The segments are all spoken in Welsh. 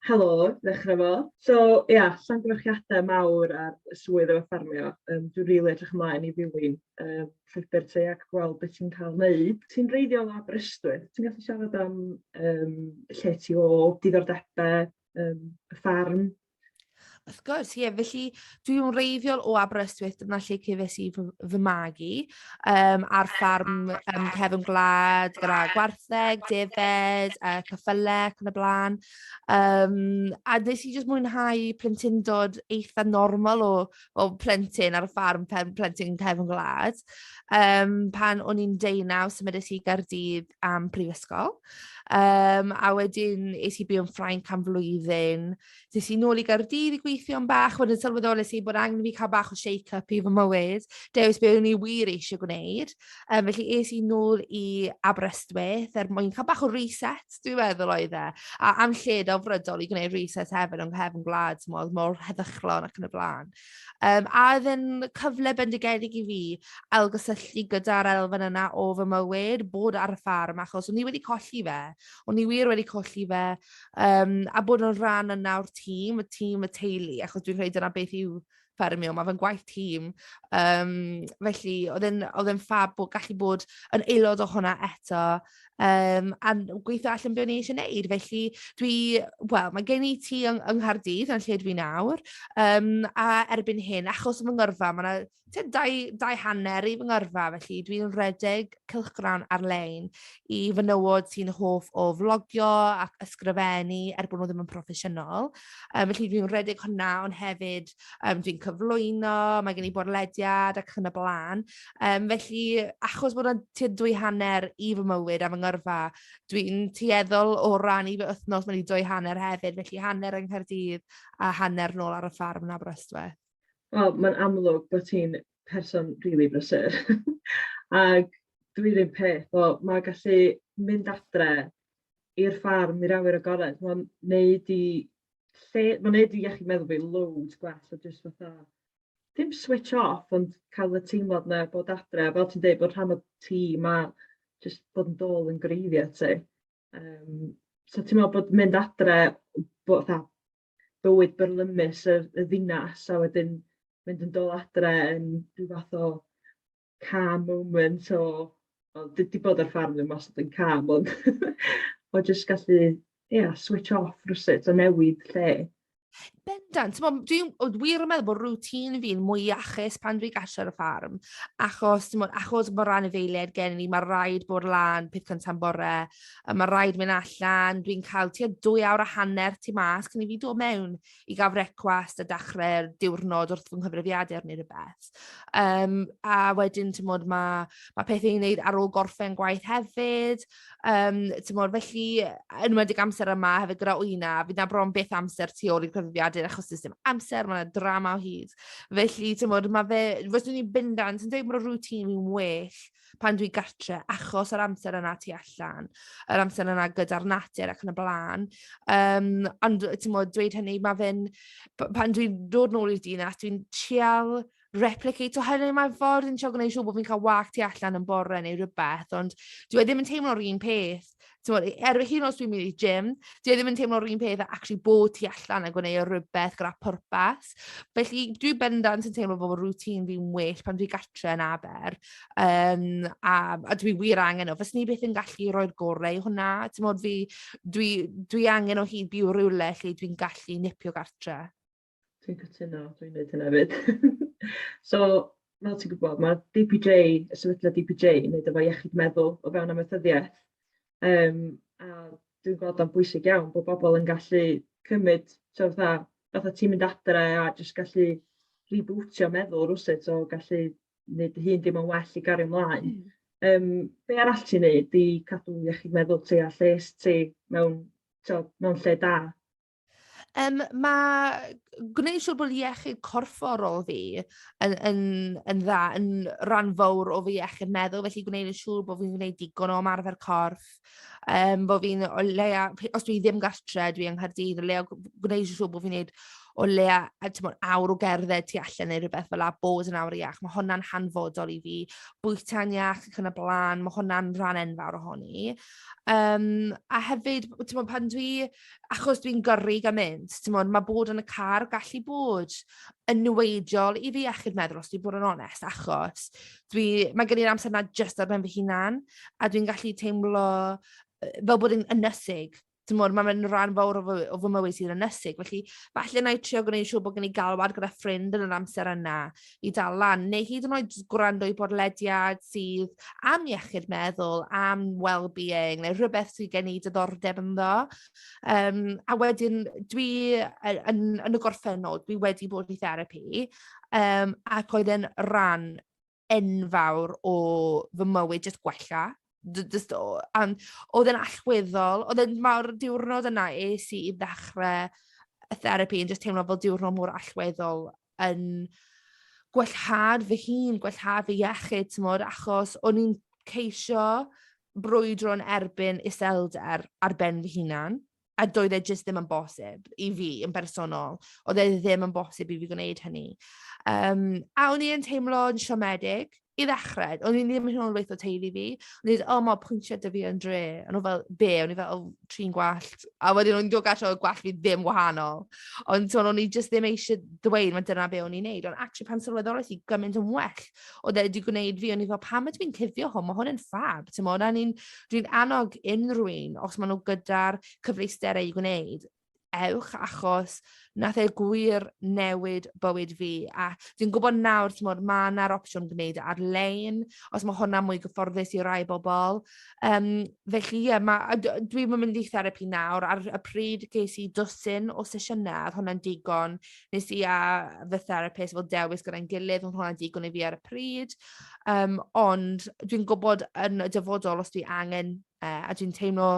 Helo, ddechrau fo. So ia, llongyfarchiadau mawr ar y swydd efo ffermio. Yym dwi'n rili edrych ymlaen i ddilyn yy llwybr ti ac gweld be ti'n cael wneud. Ti'n wreiddiol o Aberystwyth, ti'n gallu siarad am yym lle ti o, diddordebau yym y fferm? Wrth gwrs, ie. Felly, dwi'n wreiddiol o Aberystwyth, dyna lle cefais i fy fy magu, yym, ar ffarm yym cefn gwlad gyda gwartheg, defaid, yy cyffylau ac yn y blaen. Yym, a wnes i jyst mwynhau plentyndod eitha normal o... o plentyn ar y ffarm pen- plentyn cefn gwlad yym pan o'n i'n deunaw symudais i i Gaerdydd am prifysgol yym a wedyn es i byw yn Ffrainc am flwyddyn es i nôl i Gaerdydd i gweithio am bach wedyn sylweddolais i bod angen i fi cael bach o shake up i fy mywyd dewis be o'n i wir eisiau gwneud. Yym, felly es i nôl i Aberystwyth er mwyn cael bach o reset, dwi'n meddwl oedd e. A am lle delfrydol i gwneud reset hefyd yng nghefn gwlad, timod, mor heddychlon ac yn y blaen. Yym, a oedd e'n cyfle bendigedig i fi ailgysylltu gyda'r elfen yna o fy mywyd, bod ar y ffarm, achos o'n i wedi colli fe. O'n i wir wedi colli fe. Yym, a bod yn rhan yna o'r tîm, y tîm, y teulu, achos dwi'n credu dyna beth yw... ffermio, mae fe'n gwaith tîm. Yym, felly oedd e'n oedd e'n fab bod... gallu bod yn aelod o hwnna eto, yym, a gweithio allan be o'n i eisiau wneud. Felly, dwi... wel, mae gen i tŷ yng yng Nghaerdydd, yn lle dwi nawr, yym, a erbyn hyn, achos fy ngyrfa, mae 'na tua dau dau hanner i fy ngyrfa, felly dwi'n rhedeg cylchgrawn ar-lein i fenywod sy'n hoff o flogio ac ysgrifennu, er bod nhw ddim yn proffesiynol. Yym felly dwi'n rhedeg hwnna ond hefyd yym dwi'n cyflwyno, mae gen i bodlediad ac yn y blaen. Yym felly achos bod 'na tua dwy hanner i fy mywyd a fy ngyrfa dwi'n tueddol o ran i fy wythnos mynd i dwy hanner hefyd felly hanner yng Nghaerdydd a hanner nôl ar y ffarm yn Aberystwyth. Wel mae'n amlwg bod ti'n person rili brysur ac dwi 'r un peth, wel mae gallu mynd adre i'r ffarm, i'r awyr agored, mae'n neud i lle... mae'n neud i iechyd meddwl fi loads gwell, so jyst fatha, dim switch off, ond cael y teimlad 'na bod adre, fel ti'n deud, bod rhan o tîm a jyst bod yn dôl yn greiddiau ti. Yym, so ti'n meddwl bod mynd adre, bod fatha bywyd byrlymus y y ddinas, a wedyn mynd yn dôl adre yn ryw fath o calm moment o, wel dwi 'di bod ar ffarm ddim wastad yn calm ond o jyst gallu, ia, switch off rywsut a newid lle. Bendant, timod dwi w- wir yn meddwl bod routine fi'n mwy iachus pan dwi gatre ar y ffarm achos timod achos bod ran anifeiliaid gen i mae'n rhaid bod lan peth cynta yn bore a mae'n rhaid mynd allan dwi'n cael tua dwy awr a hanner tu mas cyn i fi dod mewn. i gael brecwast a dechrau'r diwrnod wrth fy nghyfrifiadur neu rywbeth. Yym, a wedyn timod ma' ma' pethau i wneud ar ôl gorffen gwaith hefyd. Yym, timod felly yy yn enwedig amser yma hefyd gyda wyna fydd 'na bron byth amser tu ôl i'r cyfrifiadur achos does dim amser, mae 'na drama o hyd. Felly timod ma' fe... fyswn i'n bendant yn dweud bod y routine yn well... pan dwi gatre achos yr amser yna tu allan, yr amser yna gyda'r natur ac yn y blaen. Yym, ond timod, dweud hynny, mae fe'n... p- pan dwi'n dod nôl i'r dinas, dwi'n trial replicato hynny mewn ffordd, yn trial gwneud siŵr bod fi'n cael walk tu allan yn bore neu rywbeth, ond dyw e ddim yn teimlo'r un peth. Timod, er hyd yn oed os dwi'n mynd i'r gym, dyw e ddim yn teimlo'r un peth â acshyli bod tu allan a gwneud rhywbeth gyda pwrpas. Felly, dwi bendant yn teimlo fel bod routine fi'n well pan dwi gatre yn Aber. Yym, a a dwi wir angen o. Fyswn i byth yn gallu rhoi'r gorau i hwnna. Timod fi, dwi dwi angen o hyd byw rywle lle dwi'n gallu nipio gatre. Dwi'n cytuno, dwi'n wneud hynna hefyd. So, fel ti'n gwybod, ma' DPJ, y sefydliad DPJ yn wneud efo iechyd meddwl o fewn amaethyddiaeth, yym, a dwi'n gweld o'n bwysig iawn bod bobl yn gallu cymryd, tibod fatha, fatha ti'n mynd adre a jyst gallu rebootio meddwl rywsut, o gallu wneud dy hun deimlo'n well i gario ymlaen. Mm. Yym, be arall ti'n wneud i cadw iechyd meddwl ti a lles ti mewn, tibod, mewn lle da? Yym, mae gwneud siŵr bod iechyd corfforol fi yn yn yn dda yn rhan fawr o fy iechyd meddwl, felly gwneud yn siŵr bod fi'n gwneud digon o ymarfer corff, yym, bod fi'n o leia... p- os dwi ddim gatre, dwi yng Nghaerdydd, o leia g- gwneud yn siŵr bod fi'n wneud o leia a tibod awr o gerdded tu allan neu rywbeth fel 'na, bod yn awr iach, mae hwnna'n hanfodol i fi. Bwyta'n iach ac yn y blaen, mae hwnna'n rhan enfawr ohoni. Yym, a hefyd, tibod pan dwi... achos dwi'n gyrru gymaint, timod, mae bod yn y car yn gallu bod yn niweidiol i fy iechyd meddwl os dwi'n bod yn onest, achos dwi... mae gen i'r amser 'na jyst ar ben fy hunan, a dwi'n gallu teimlo fel bod yn ynysig, timod, mae fe'n rhan fawr o fy- o fy mywyd sy'n ynysig, felly falle wna i trio gwneud siŵr bod gen i galwad gyda ffrind yn yr amser yna. i dal lan, neu hyd yn oed jyst gwrando i bodlediad sydd am iechyd meddwl, am wellbeing neu rhywbeth sydd gen i diddordeb ynddo. Yym, a wedyn dwi yy yn yn y gorffennol, dwi wedi bod i therapi yym ac oedd e'n ran enfawr o fy mywyd jyst gwella. J- jyst o a oedd e'n allweddol. Oedd e'n... mae'r diwrnod yna es i i ddechrau y therapi yn jyst teimlo fel diwrnod mor allweddol. yn gwellhad fy hun, gwellhad fy iechyd, timod, achos o'n i'n ceisio brwydro yn erbyn iselder ar ben fy hunan, a doedd e jyst ddim yn bosib i fi yn bersonol. Oedd e ddim yn bosib i fi gwneud hynny. Yym, a o'n i yn teimlo'n siomedig. I ddechrau, o'n i ddim hyd yn oed yn gweud wrth fy teulu fi. O'n i jyst "O mae pwyntiau 'da fi yn dre". O'n nhw fel "Be?" O'n i fel "O trin gwallt". A wedyn o'n i'n dod gatre oedd gwallt fi ddim wahanol. Ond timod o'n i jyst ddim eisiau dweud mae dyna be o'n i'n wneud. Ond acshyli pan sylweddolais i gymaint yn well oedd e 'di gwneud fi. O'n i fel "Pam ydw i'n cuddio hwn? Mae hwn yn ffab". Timod? A o'n i'n... dwi'n annog unrhyw un os maen nhw gyda'r cyfleusterau i gwneud... ewch achos wnaeth e gwir newid bywyd fi a dwi'n gwybod nawr timod mae 'na'r opsiwn gwneud e ar-lein os mae hwnna'n mwy gyfforddus i rai bobl yym felly ie ma' a d- dwi'm yn mynd i therapi nawr ar y pryd ges i dwsin o sesiynau a oedd hwnna'n digon wnes i a fy therapist fel dewis gyda'n gilydd oedd hwnna'n digon i fi ar y pryd yym ond dwi'n gwybod yn y dyfodol os dwi angen e a dwi'n teimlo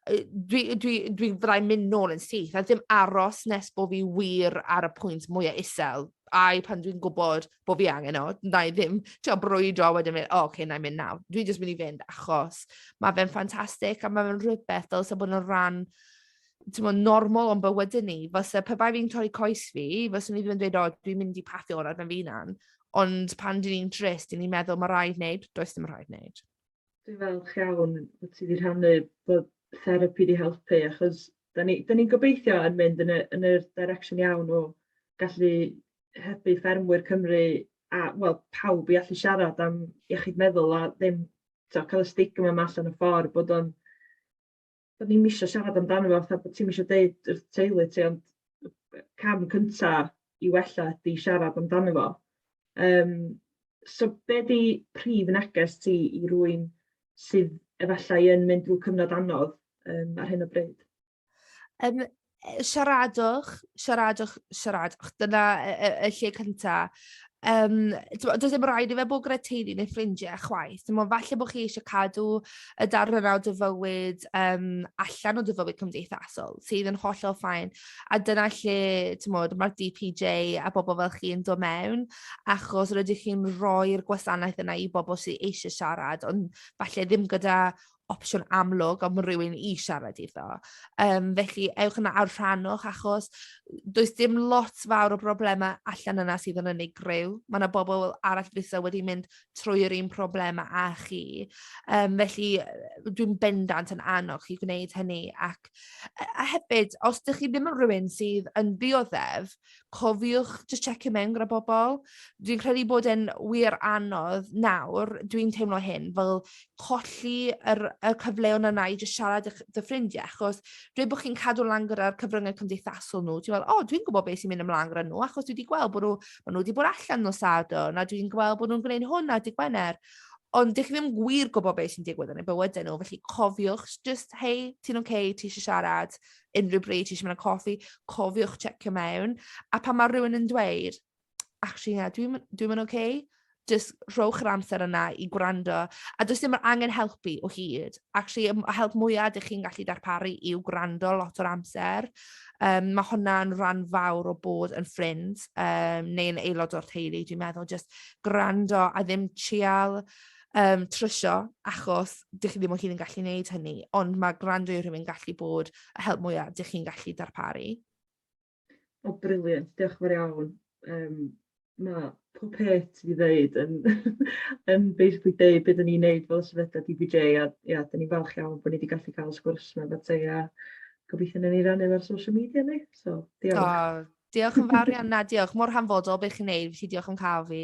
yy dwi dwi dwi fyddai'n mynd nôl yn syth a ddim aros nes bod fi wir ar y pwynt mwya isel ai pan dwi'n gwybod bod fi angen o wna i ddim trio brwydro a wedyn mynd "o ok wna i mynd nawr". Dwi jyst mynd i fynd achos mae fe'n ffantastig a mae fe'n rhywbeth dylse bod yn rhan timod normal o'n bywydau ni. Fyse pe bai fi'n torri coes fi fyswn i ddim yn dweud "o dwi'n mynd i paffio ar ben fy hunan". Ond pan dan ni'n drist dan ni'n meddwl "ma' raid wneud". Does dim rhaid wneud. Dwi'n falch iawn bod ti 'di rhannu bod therapi 'di helpu achos dan ni dan ni'n gobeithio yn mynd yn y yn yr direction iawn o gallu hybu ffermwyr Cymru a wel pawb i allu siarad am iechyd meddwl a ddim tibod cael y stigma 'ma allan y ffordd bod o'n do'n i'm isio siarad amdano fo fatha bod ti'm isio deud wrth teulu ti ond y cam cynta i wella ydi siarad amdano fo. Yym so be' 'di prif neges ti i rywun sydd efallai yn mynd drw cyfnod anodd yym ar hyn o bryd? Yym yy siaradwch, siaradwch, siaradwch. Dyna y y y lle cynta. Yym, timod, does dim rhaid i fe bod gyda teulu neu ffrindiau chwaith. Timod, falle bod chi eisiau cadw y darnau 'na o dy fywyd, yym, allan o dy fywyd cymdeithasol, sydd yn hollol fine. A dyna lle, timod, mae'r DPJ a bobl fel chi yn dod mewn, achos rydych chi'n rhoi'r gwasanaeth yna i bobl sy eisiau siarad, ond falle ddim gyda opsiwn amlwg am rywun i siarad iddo. Yym, felly ewch yna a rhannwch achos does dim lot fawr o broblemau allan yna sydd yn unigryw. Mae 'na bobl arall fyse wedi mynd trwy yr un problemau â chi. Yym, felly dwi'n bendant yn annog chi gwneud hynny ac a hefyd, os dych chi ddim yn rywun sydd yn ddioddef... Cofiwch jyst tsecio mewn gyda pobl. Dwi'n credu bod e'n wir anodd nawr, dwi'n teimlo hyn, fel colli yr y cyfleon yna i jyst siarad â'ch dy ffrindiau achos dweud bod chi'n cadw lan gyda'r cyfryngau cymdeithasol nhw, ti'n meddwl "O, dwi'n gwybod be sy'n mynd ymlaen gyda nhw achos dwi 'di gweld bod nhw... maen nhw 'di bod allan nos Sadwrn a dwi'n gweld bod nhw'n gwneud hwn ar dydd Gwener." Ond dych chi ddim gwir gwybod be sy'n digwydd yn eu bywydau nhw, felly cofiwch jyst "Hei, ti'n ok? Ti isie siarad?" unrhyw bryd ti eisiau mynd am coffi, cofiwch checio mewn. A pan mae rhywun yn dweud "Acshyli na, dwi'm dwi'm yn ok" jyst rhowch yr amser yna i gwrando. A does dim angen helpu o hyd. Acshyli y help mwya dych chi'n gallu darparu yw gwrando lot o'r amser. Yym mae hwnna'n rhan fawr o bod yn ffrind yym neu yn aelod o'r teulu dwi'n meddwl jyst gwrando a ddim trial yym, trwsio, achos dych chi ddim o hyd yn gallu wneud hynny, ond mae gwrando i rhywun gallu bod y help mwya dych chi'n gallu darparu. O, brilliant, diolch yn fawr iawn. Yym, mae pob peth ti 'di ddeud yn yn basically deud be' 'dyn ni'n neud fel sefydliad DBJ a ia, 'dyn ni'n falch iawn bod ni 'di gallu cael sgwrs 'ma efo ti a gobeithio wnawn ni rannu ar social media ni, so diolch. O, diolch yn fawr iawn, na diolch, mor hanfodol beth chi'n neud, felly diolch am cael fi.